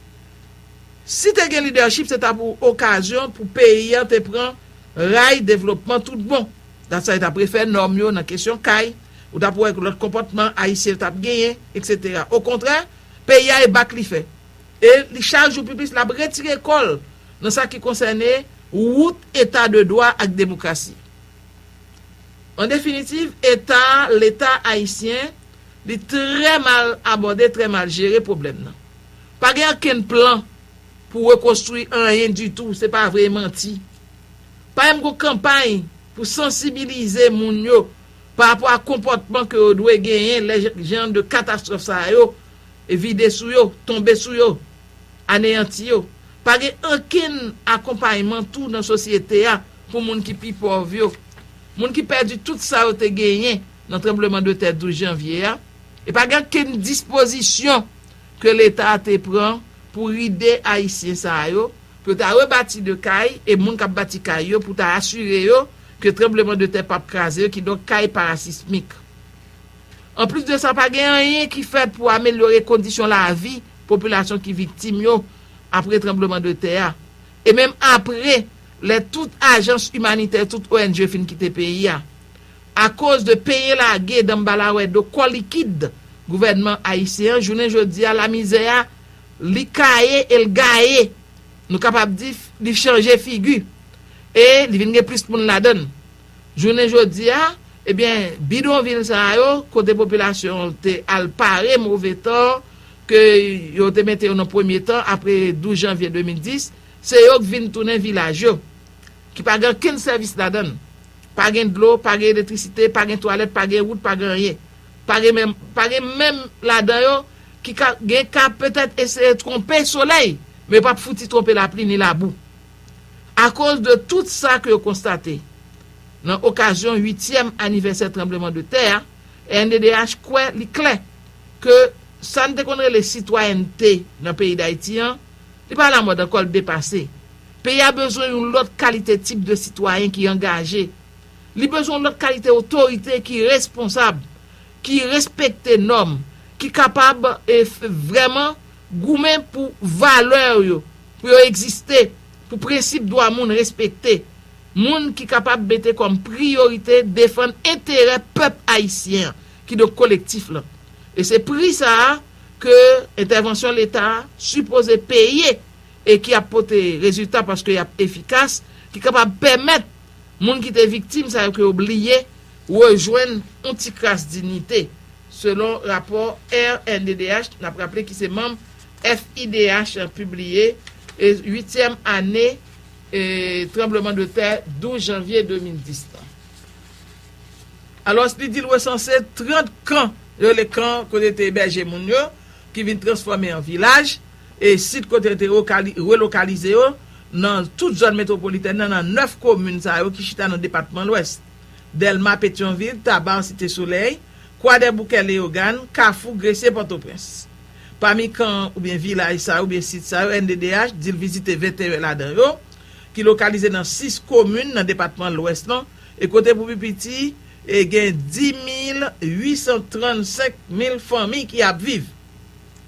si te gen lidèchip se ta pou okazyon pou peyi an te pran Ray devlopman tout bon. Dat sa yo tap refè nòm yo nan kesyon kay, ou tap wè lòt konpòtman ayisyen yo tap genyen etc. Okontrè peyi a e bak li fè. E li chak jou pi plis lap retire kò l nan sa ki konsène wout eta de dwa ak demokrasi. An definitiv eta, leta ayisyen li trè mal abòde, trè mal jere pwoblèm nan. Pa gen ankenn plan. pou rekonstwi anyen ditou se pa vre e manti. Pa menm gon kanpay pou sansibilize moun yo pa rapò a konpòtman ke yo dwe genyen lè jan de katastwòf sa yo vide sou yo, tonbe sou yo, aneyanti yo. Pa gen ankenn akonpayman tou nan sosyete a pou moun ki pi pòv yo. Moun ki pèdi tout sa yo te genyen nan tranbleman de tè 12 janvye a e pa gen ankenn dispozisyon ke leta te pran pou ride ayisyen sa a yo, pou yo ta rebati de kay, e moun k ap bati kay yo pou ta asire yo ke tranbleman de tè pap kraze yo, kidonk kay parasismik. Anplis de sa pa gen anyen ki fèt pou amelyore kondisyon lavi popilasyon ki viktim yo apre tranbleman de tè a, e menm apre lè tout ajans imanitè, tout ong fin kite peyi a. Akoz de peye lage danbalawè do kò likid gouvènman ayisyen an, jounen jodi a lamizè a li kaye e l gaye, nou kapab di li chanje figi e li vin gen plis moun ladan l. Jounen jodi a, ebyen bidonvil sa yo kote popilasyon an te al pare move tan ke yo te mete yo nan premye tan apre 12 janvye 2010, se yo k vin tounen vilaj yo. Ki pa gen ankenn sèvis ladan l. Pa gen dlo, pa gen elektrisite, pa gen twalèt, pa gen wout, pa gen anyen. Pa gen menm, pa gen menm ladan yo ki ka, gen ka petèt eseye twonpe solèy, men yo p ap fouti twonpe lapli ni labou. Akoz de tout sa ke yo konstate, nan okazyon uityèm anivèsè tranbleman de tè a, rnddh kwè li klè ke sa n te konn rele sitwayènte nan peyi Dayiti an, li pa lamòd ankò, l depase. Peyi a bezwen yon lòt kalite tip de sitwayen ki angaje. Li bezwen yon lòt kalite otorite ki responsab, ki respekte nòm, ki kapab vrèman goumen pou valè yo, pou yo egziste, pou prensip dwa moun respekte. Moun ki kapab mete kòm priyorite defann enterè pèp ayisyen an, kidonk kolektif lan. E se pri sa a ke entèvansyon Leta a sipoze peye. e ki ap pote rezilta paske y ap efikas, ki kapab pèmèt moun ki te viktim sa yo ke yo bliye rejwenn yon ti kras dinite, selon rapò rnddh, n ap raple ki se manm FIDH, pibliye e uityèm ane tranbleman de tè 12 janvye 2010 lan. Alòs li di l resanse 30 kan, yo rele kan kote te ebèje moun yo, ki vin transfòme an vilaj. E sit kote yo te relokalize yo nan tout zòn metwopolitèn nan nan 9 komin sa yo ki chita nan depatman Lwès, Dèlma, Petyonvil, Taba, Site Solèy, Kwadèboukè, Leyogàn, Kafou, Gresye, Pòtoprens. Pami kan oubyen vilaj sa yo oubyen sit sa yo NDDH di l vizite 21 ladan yo ki lokalize nan 6 komin nan depatman Lwès lan e kote pou pi piti gen 10 mil 835 mil fanmi ki ap viv.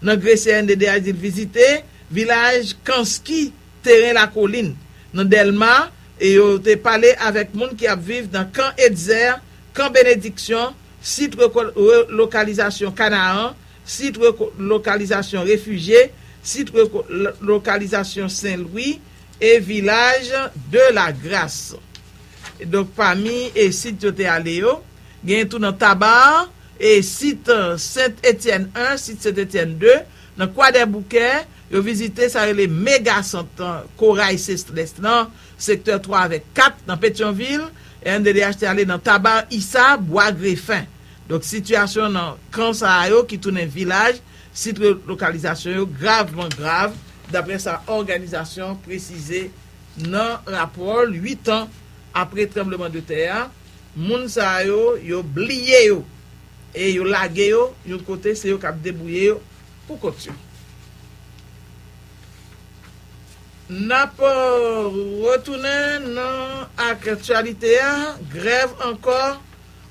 Nan gre CNDDH di l vizite, vilaj Kanski, Teren Lakolin, nan Dèlma, e yo te pale avèk moun ki ap viv nan Kan Etzer, Kan Benediksyon, Sit Relokalizasyon Kanaan, Sit Relokalizasyon Refijye, Sit Relokalizasyon Sen Lwi, e vilaj De La Gras. Donk pami sit yo te ale yo, genyen tou nan Taba, e sit Sent Etyèn 1, sit Sent Etyèn 2, nan Kwadèboukè, yo vizite sa yo rele mega sant Koray Sestres nan sektè 3 avèk 4 nan Petyonvil, rnddh te ale nan Tabar Issa, Bwa Grefen. Donk sitiyasyon nan kan sa a yo ki tounen vilaj, sit relokalizasyon yo gravman grav, daprè sa òganizasyon presize nan rapò l 8 an apre tranbleman de tè a. Moun sa yo, yo bliye yo e yo lage yo yon kote se yo kap debouye yo pou kont yo. Nap retounen nan aktyalite a, grèv ankò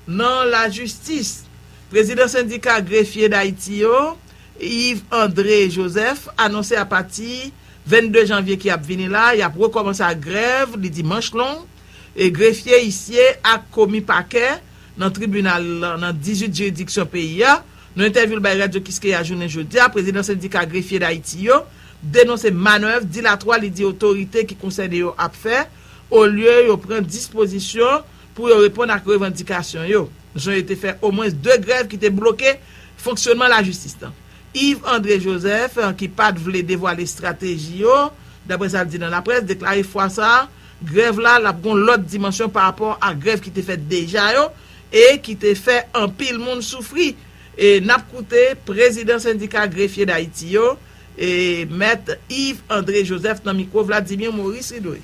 nan lajistis. Prezidan sendika grefye Dayiti yo, Yves André Joseph anonse apati 22 janvye ki ap vini la, yap rekòmanse ak grèv li di manch long, e grefye, isye ak komi pakè nan tribinal lan nan 18 jiridiksyon peyi a. Nan entèvyou l bay Radyo Kiskeya jounen jodi a, prezidan sendika grefye Dayiti yo denonse manèv dilatwa li di otorite ki konsène yo ap fè olye yo pran dispozisyon pou yo reponn ak revandikasyon yo jan yo te fè omwens 2 grèv ki te bloke fonksyonman lajistis lan. Yves André Joseph, ki pa t vle devwale estrateji yo, daprè sa l di nan laprès, deklare fwa sa a, Grèv la, l ap gen yon lòt dimansyon pa rapò a grèv ki te fèt deja yo e ki te fè anpil moun soufri. E n ap koute prezidan sendika grefye Dayiti yo, e mèt Yves André Joseph nan mikwo Vladimir Maurice Ridley.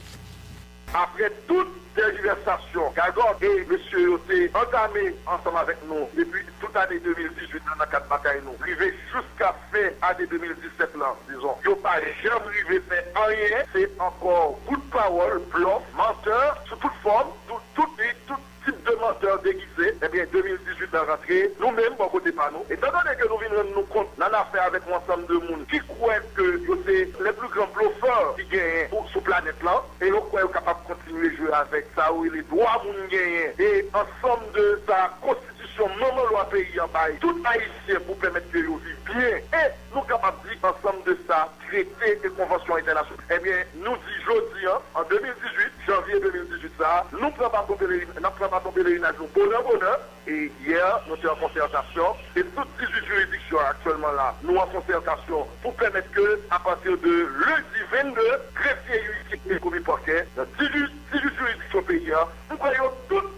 Aprè tout tèjivèsasyon, gagòt e mesye yo te antame ansanm avèk nou depi tout ane 2018 la nan kad batay nou rive jouska Fen ane 2017 lan dizon yo pa janm rive fè anyen se ankò bout pawòl, blòf, mantè sou tout fòm, sou tout li, tout tip de mantè degize ebyen 2018 lan rantre nou menm bò kote pa nou etan done ke nou vin rann nou kont nan afè avèk yon ansanm de moun ki kwè ke yo se les plus grands bluffeurs ki genyen pou sou planèt lan e yo kwè yo kapab kontinye jwe avèk sa yo rele dwa moun genyen e ansanm de sa konstitisyon manman lwa peyi an bay tout Ayisyen. Sè pou pèmèt ke yo viv byen e nou kapab di ansanm de sa trete e konvansyon entènasyon. Ebyen nou di jodi an, an 2018, janvye 2018 sa a, nou pran baton pelerin, nap pran baton pelerinaj nou bonè bonè. E yè nou te an konsètasyon e tout 18 jiridiksyon aktyèlman la nou an konsètasyon pou pèmèt ke a pati de lendi 22, grefye, uisie e komi pakè nan 18 jiridiksyon peyi a, m kwè yo tout.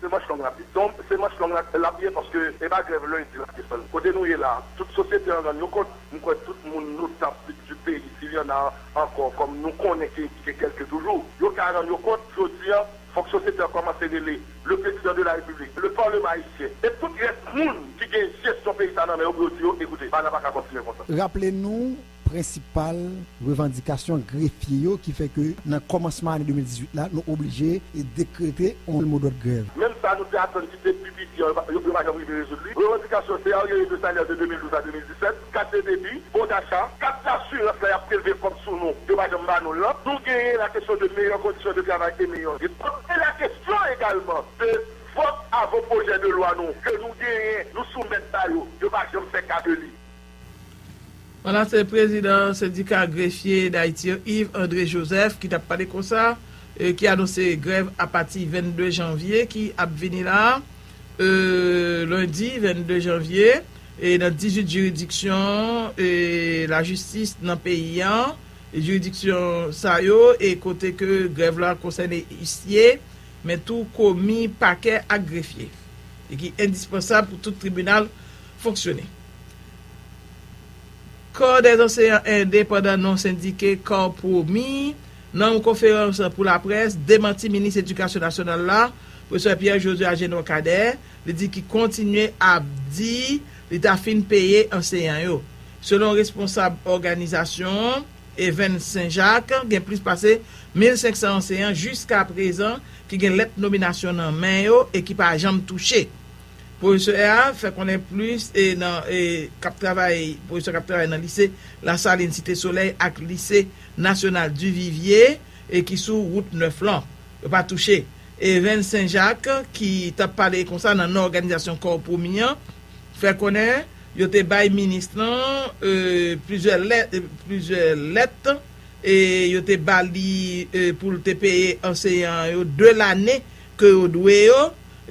Se manch long lap ye. Don se manch long lap ye paske e pa grèv lundi lap desann. Kote nou ye la tout sosyete an rann yo kont m kwè tout moun notabl du peyi sil y'en a ankò kòm nou konnen ke ki gen kèlke toujou yo ka rann yo kont jodi an fòk sosyete an kòmanse rele le prezidan de la repiblik, le parleman ayisyen e tout rès moun ki gen jesyon peyi sa nan men yo pou yo di yo ekoute bagay la pa ka kontinye konsa. Raple nou prensipal revandikasyon grefye yo ki fè ke nan kòmansman ane 2018 la nou oblije dekrete yon modòd grèv. Menm sa nou te atann ki te pi piti an yo pa janm rive rezoud li, revandikasyon se aryere de salè de 2012 a 2017, kat de debi, bon dacha, kat dasirans lè y ap prelve kòb sou nou yo pa janm ba nou l lan, nou genyen la kesyon de meyè kondisyon de travay e meyè rit kont e la kesyon egalman de vòt avan pwojè de lwa nou ke nou genyen nou soumèt ba yo, yo pa janm fè ka de li. Pandan se prezidan sendika grefye Dayiti yo Yves André Joseph ki tap pale konsa ki anonse grèv apati 22 janvye ki ap vini la lendi 22 janvye nan 18 jiridiksyon lajistis nan peyi an jiridiksyon sa yo e kote ke grèv la konsène isye men tou komi pakè ak grefye e ki endispansab pou tout tribinal fonksyone. Kò dè anseyan endepandan non sendike kar pwomi nan yon konferans pou laprès demanti minis edikasyon nasyonal la pwofesè Pierre Josue Agénor Cadet li di ki kontinye ap di li ta fin peye anseyan yo selon responsab òganizasyon evn sen jak gen plis pase mil 500 anseyan jiska prezan ki gen lèt nominasyon nan men yo e ki pa janm touche. Pwofesè a fè konnen plis e nan e kap travay pwofesè kap travay nan lise Lasalin Site Solèy ak lise Nasyonal Duvivye e ki sou wout 9 lan. Yo pa touche. E Ren Senjak ki tap pale konsa nan non òganizasyon Kò Pwomi an fè konnen yo te bay minis lan e plizyè lèt e plizyè lèt e yo te bali e poul te peye anseyan yo 2 lane ke yo dwe yo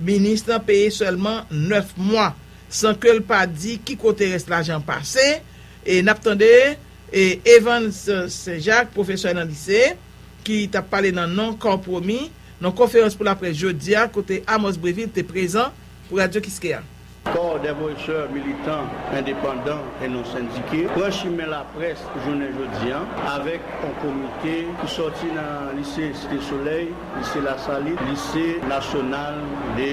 Minis lan peye sèlman 9 mwa san ke l pa di ki kote rès lajan an pase. E n ap tande Evans Senjak, pwofesè nan lise, ki t ap pale nan non Kò Pwomi nan konferans pou laprès jodi a kote Amos Brevil te prezan pou Radio Kiskeya. Kò Dèfwesè Militan Endepandan e Non Sendike pran chimen laprès jounen jodi a avèk on komite ki sòti nan Lise Site Solèy, Lise Lasalit, Lise Nasyonal de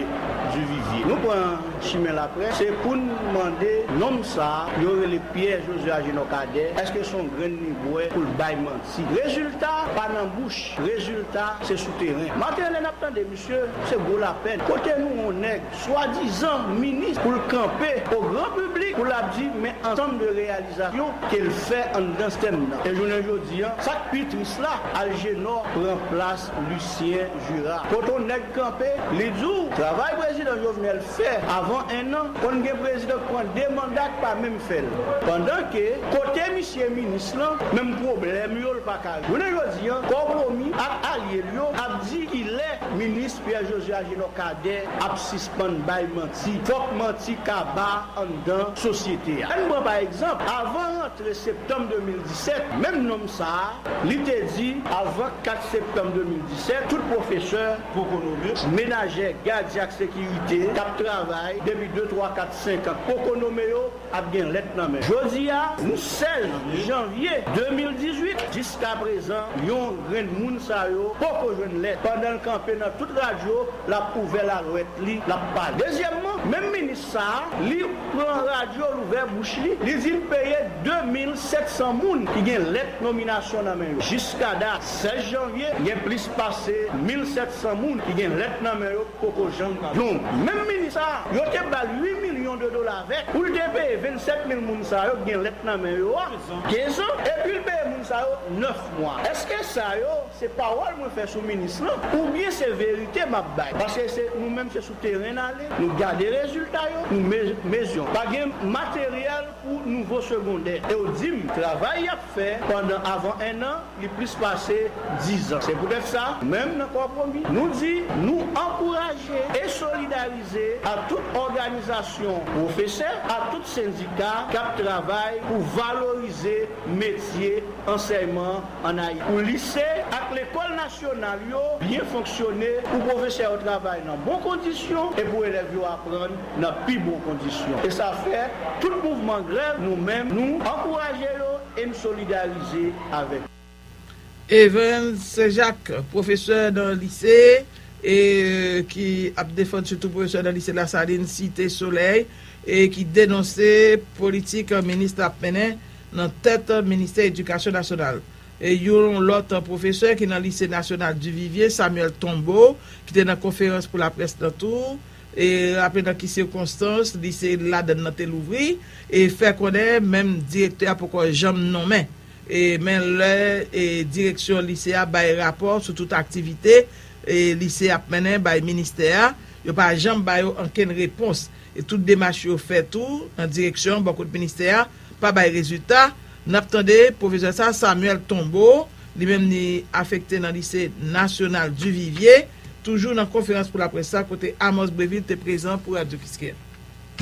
Duvivye. Nou pran chimen laprès se pou n mande nonm sa yo rele Pyè Joze Ajenò Kadè èske s on grenn li bwè pou l bay manti. Rezilta pa nan bouch, rezilta se sou teren. Maten lè n ap tande misye se gwo lapèn. Kote nou on nèg swadizan minis pou l kanpe o gran piblik pou l ap di men ansanm de reyalizasyon ke l fè anndan stèm nan. E jounen jodi an, sa k pi tris la, Aljenò pran plas Lisyen Jira. Kot on nèg kanpe, li di w travay prezidan Jovenel fè avan ennan, konn gen prezidan k pran 2 manda k pa menm fè l. Pandan ke kote misye minis lan, menm pwoblèm yo l pa ka. Jounen jodi an, Kòw Pwomi ak alye l yo ap di ki lè minis. Pierre Josue Agénor Cadet ap sispann bay manti. Fòk manti kaba anndan sosyete a. Ann pran pa egzanp, avan rantre septanm 2017, menm nonm sa a, li te di, avan 4 septanm 2017, tout pwofesè, pokonomist, menajè, gadyen ak sekirite k ap travay depi 2, 3, 4, 5 an, poko nome yo. ap gen lèt nan men. Jodi a, nou 16 janvye 2018, jiska prezan yon grenn moun sa yo poko jwenn lèt. Pandan l kanpe nan tout radyo, l ap ouvè lalwèt li, l ap pale. Dezyèmman, menm minis sa a, li pran radyo, l ouvè bouch li, li di l peye 2 mil 700 moun ki gen lèt nominasyon nan men yo. Jiska dat 16 janvye, gen plis pase mil 700 moun ki gen lèt nan men yo. Poko janm pran non. Menm minis sa a, yo te ba l 8 milyon de dola avèk pou l te peye 27 mil moun sa yo k gen lèt nan men yo a 15 an epi l peye moun sa yo 9 mwa. Eske sa yo se pawòl mwen fè sou minis lan oubyen se verite m ap bay? Paske se nou menm se sou teren n ale, nou gade rezilta yo, nou mezyon. Pa gen materyèl pou nouvo segondè e w di m travay y ap. fè pandan avan ennan, li plis pase dizan. Se poutèt sa, nou menm nan Kòpromi, nou di, nou ankouraje e solidarize ak tout òganizasyon pwofesè, ak tout sendika k ap travay pou valorize metye ansèyman an Ayiti, pou lise ak lekòl nasyonal yo byen fonksyone, pou pwofesè yo travay nan bon kondisyon e pou elèv yo aprann nan pi bon kondisyon. E sa fè tout mouvman grèv nou menm nou ankouraje yo e n solidarize avèk yo. Evens Saint Jacques, pwofesè nan lise e ki ap defann sitou pwofesè nan lise Lasalin Site Solèy e ki denonse politik minis la ap mennen nan tèt ministè edikasyon nasyonal. E yon lòt pwofesè ki nan lise nasyonal Duvivier Samuel Tombeau ki te nan konferans pou laprès nan tou raple nan ki sikonstans li se ladann nan te louvri, e fè konnen menm direktè a poko janm nonmen men lè direksyon lise a bay rapò sou tout aktivite lise ap mennen bay ministè a, yo pa janm ba yo ankenn repons e tout demach yo fè tou nan direksyon bò kot ministè a pa bay rezilta. Nap tande pwofesè sa Samuel Tombeau li menm li afekte nan lise nasyonal Duvivier toujou nan konferans pou laprès sa kote Amos Brevil te prezan pou radyo Kiskeya.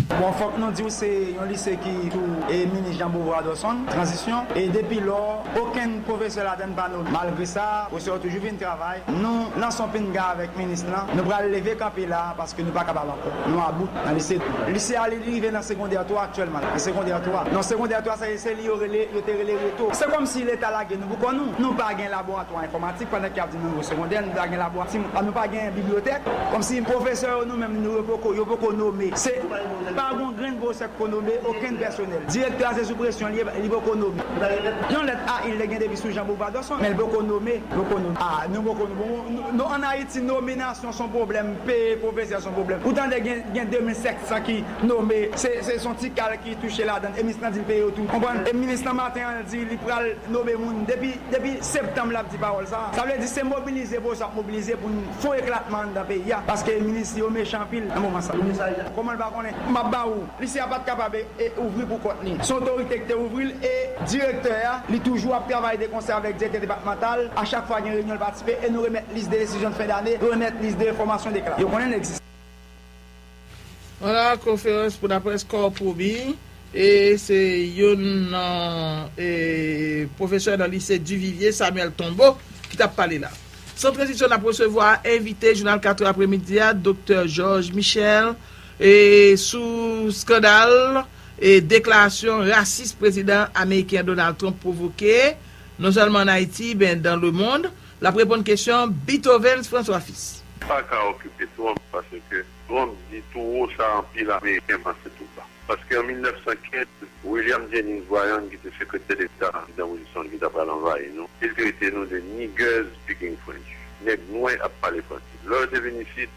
Bon fòk nou diw se yon lise ki sou minis Jean Beauvoir Dorson, tranzisyon, e depi lò okenn pwofesè ladann pa nome. Malgre sa pwofesè yo toujou vin travay, nou nan son pinga avèk minis lan, nou pral leve kanpe la paske nou pa kapab ankò. Nou a bout nan lise tou. Lise a li rive nan segondè 3 aktyèlman la. Nan segondè 3. Non segondè 3 sa se li yo rele yo te rele reto. Se kòm si leta lage nou pou kò nou. Nou pa gen laboratwa enfòmatik pandan ke y ap di nou nou segondè nou ta gen laborat si nou pa gen bibliyotèk. Kòm si pwofesè yo nou menm nou yo poko yo poko nome. Se pa gon grenn pwofesè ki ko nome okenn pèsonèl. Direktè a se sou presyon li ye li poko nome. Yon lèt a il te gen depi sou Jean Beauvadosson men li poko nome. Poko nome. A nou poko nou bon nou an Ayiti nominasyon. son pwoblèm, peye pwofesè son pwoblèm. Ou tande gen gen 2700 ki nome, se se son ti kal ki touche ladann e minis lan di l peye yo tou. Konprann? E minis lan maten an l di li pral nome moun depi depi septanm lap di pawòl sa a. Sa vle di se mobilize Bose ap mobilize pou n fon eklatman anndan peyi a paske minis li yo mechan anpil nan moman sa a. Koman l pa konnen? M ap ba ou. Lise a pat kapab e ouvri pou kont li. Se otorite ki te ouvri l e direktè a, li toujou ap travay de konsè avèk direktè depatmantal. A chak fwa gen reyinyon l patisipe e nou remèt lis de desizyon de fen dane, nou remèt lis de enfòmasyon de klas. Yo konnen n egziste. Pandan konferans pou laprès Corpobi, e se youn nan e pwofesè nan lise Duvivier, Samuel Tombeau, ki t ap pale la. San tranzisyon n ap resevwa envite jounal 4 è apremidi a, Doktè Georges Michel, E sou skandal e deklarasyon rasis prezidan ameriken Donald Trump pwovoke, non sèlman an Ayiti, men dan le mond, l ap reponn kesyon Beethovens François Fils. M pa ka okipe Trump paske Trump di tou wo sa anpil ameriken panse tou ba. Paske an 1915, William Jennings Bryan ki te sekretè deta prezidan Wilson ki ta pral anvayi nou, te trete nou de niggers speaking French, nèg nwè ap pale franse. Lè yo te vin isit,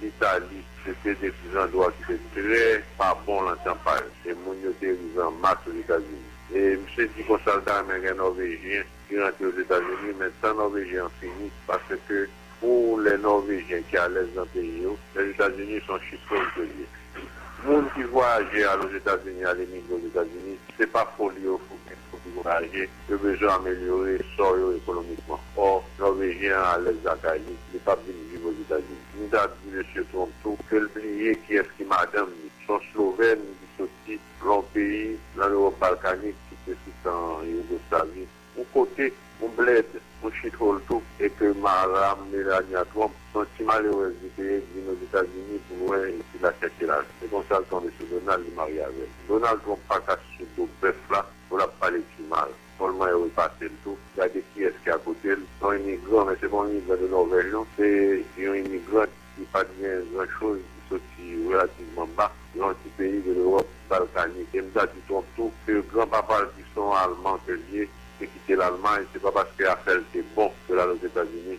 Litali, se te de ti zandwa ki te trè pa bon lan tchanpay, e moun yo te rive an mas Ozetazini. E misye di konsa l ta renmen gen Nòvejyen ki rantre Ozetazini, men tan Nòvejyen an fini, paske pou lè Nòvejyen ki alèz lan peyi yo, Lèzetazini s on shithole ke l ye. Moun ki vwayaje al Ozetazini, al emigre Ozetazini, se pa foli yo fou ki fou ki vwayaje, Yo bezwen amelyore sò yo ekonomikman. Or, Nòvejyen an alèz lakay li, li pap vin viv Ozetazini. M ta di Mesye Trump tou ke l bliye kiyès ki madanm li. S on Slovèn ki soti lwen yon peyi lan Lewòp balkanik ki te sou tan Yougoslavi. Yon kote, yon blèd, yon shithole tou. E ke Maram Melania Trump, s on ti malerèz li te ye ki vin Ozetazini pou lwen epi l al chèche lajan. Se konsa l tonbe sou Donald, li marye avè l. Donald Trump pa ka sou do bèf la. Moun ap pale ti mal. Bonl mwen repasel tou. Gade kiyes ki akotel. Yon imigran men se pa yon imigran de Norvèj non. Se yon imigrant ki pat gen gran choz ki soti relativman ba. Yon ti peyi de Lewòp balkanik. E m ta di twòp tou ke gran papa l ki son alman ke l ye te kite lalmay se pa paske afè l te bon ke l al Ozetazini.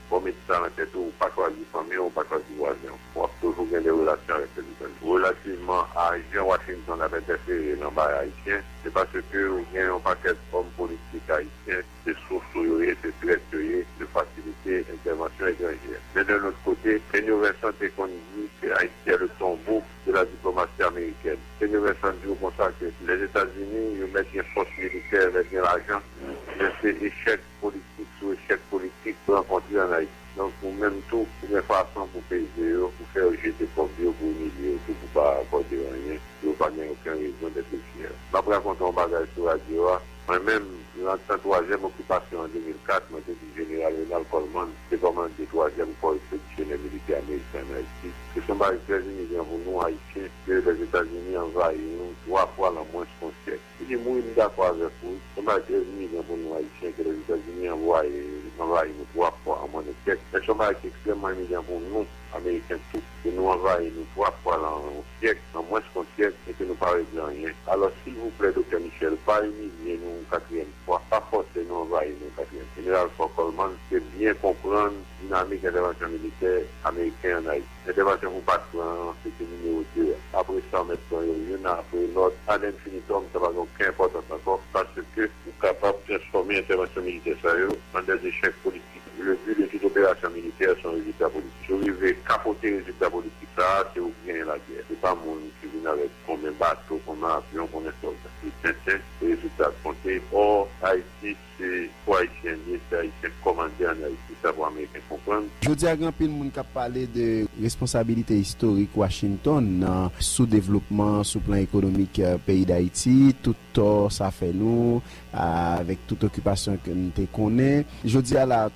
Bon met sa nan tèt ou, ou pa chwazi fanmi w, ou pa chwazi vwazen w. Wap toujou gen de relasyon avèk pèsonn yo. Relativman a jan Washington ap entèfere nan bagay ayisyen, se paske ou gen yon pakèt òm politik ayisyen, se sous ou yo ye, se trèt yo ye, yo fasilite entèvansyon etranjè. Men de lòt kote, Kenyo Vincent te konn di ke Ayiti est le tombeau de la diplomatie américaine. Kenyo Vincent di ou konsa ke Lèzetazini yo mèt gen fòs militè, mèt gen lajan, men se echèk politik sou echèk politik rankontre an Ayiti. Donk ou menm tou ou gen fason pou peze yo, pou fè yo jete kòb yo, pou imilye yo tou pou pa akòde anyen, pou yo pa gen oken rezon dèt oufyè. M ap rakonte yon bagay sou radyo a, mwen menm, nan tan twazyèm okipasyon an 2004, mwen te di Jeneral Ronald Coleman, ki te kòmande twazyèm kò ekspedisyonè militè ameriken an Ayiti, ke se yon bagay ki trè inigran pou nou Ayisyen ke Lèzetazini anvayi nou twa fwa lan mwens yon syèk. Ebyen mwen m dakò avèk ou, se pa 13 milyon pou nou ayisyen ke Lèzetazini anvwaye anvayi nou 3 fwa an mwen de kèk, men se yon bagay ki ekstrèmman imilyan pou nou ameriken tou, ke nou anvayi nou 3 fwa lan yon syèk, lan mwens kon syèk, e ke nou pa regle anyen. Alòs silvouplè Doktè Michel, pa imilye nou yon katriyèm fwa, pa fòse nou anvayi nou yon katriyèm. Jeneral Fort Coleman te byen konprann dinamik entèvansyon militè ameriken an Ayiti. Entèvansyon pou Pat pran an se te nimewo 2 a. Apre sa w mèt pran yo youn apre lòt ad infinitum, sa pa gen oken enpòtans ankò paske ou kapab transfòme entèvansyon militè sa yo an dè echèk politik. Le but de toute opération militaire son résultat politique. Si w rive kapote rezilta politik sa a, se ou ki genyen lagè. Se pa moun ki vin avèk konben bato, konben avyon, konben sòlda. Se tenten, se rezilta k konte. Ò, Ayiti. Se pou Ayisyen ye, se Ayisyen k kòmande an Ayiti, sa pou Ameriken konprann. Jodi a gen anpil moun k ap pale de responsabilite istorik Washington nan soudevlopman sou plan ekonomik peyi Dayiti, tout tò sa fè nou avèk tout okipasyon ke n te konnen. Jodi a la a,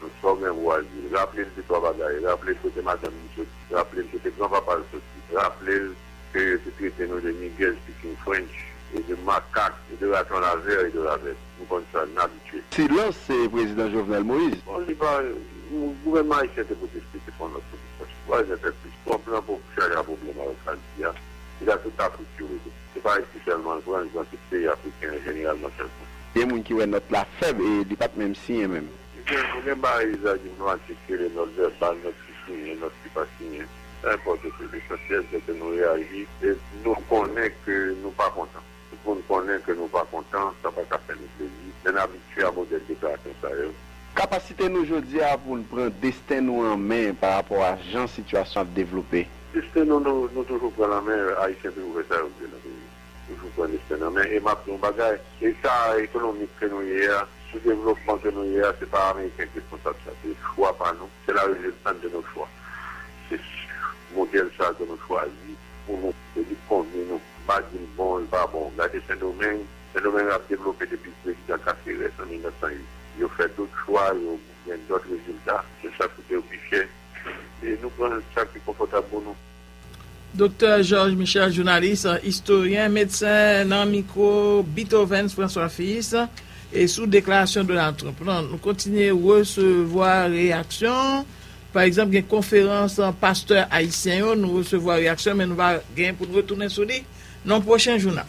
Nou sò gen vwazi. Raple l de twa bagay. Raple l kote madanm li soti. Raple l kote gran papa l soti. Raple l ke yo te trete nou de Nigèz pikin French e de makak e de raton lavè e de ravèt. Nou konn sa. N abitye. Silans se Prezidan Jovenel Moïse. Bon, li pa, gouvènman ayisyen te pwoteste, te pran nòt pwotestasyon. Pwazin fè plis twòp lan pou chaje a pwoblèm avèk Haïti a. Li ka tout Afrik yo vle. Se pa Ayiti sèlman l pran, li pran tout peyi afriken an jeneralman sèlman. Gen moun ki wè nòt la fèb e li pa t menm siyen menm. Ou gen parèy sa ki pran atik rele nòt vèbal, nòt ki siyen, nòt ki pa siyen. Sa enpòte tou. Lesansyèl se ke nou reyaji e nou konnen ke nou pa kontan. Tout moun konnen ke nou pa kontan, sa pa ka fè nou plezi, men n abitye a modèl deklarasyon sa yo. Kapasite nou jodi a pou n pran desten nou an men parapò a jan sitiyasyon ap devlope. Destin nou nou toujou pran nan men ayisyen toujou fè sa yo vle nan peyi toujou pran destin nan men e map di yon bagay eta ekonomik ke nou ye a sou devlopman ke nou ye a se pa ameriken ki responsab sa se chwa pa nou se la reziltant de nos chwa se modèl sa ke nou chwazi pou nou e li konvni nou m pa di l bon li pa bon gade sendomeng sendomeng ap devlope depi prezidan kaserès an 1908 yo fè dot chwa yo gen dot rezilta se sa koute yo pi chè. e nou pran sa ki konfòtab pou nou. Doktè Georges Michel, jounalis, istoryen, medsen nan mikwo Beethoven François Fils e sou deklarasyon Donald Trump lan nou kontinye resevwa reyaksyon, pa egzanp gen konferans pastè ayisyen yo nou resevwa reyaksyon men nou va gen pou nou retounen sou li nan pwochen jounal.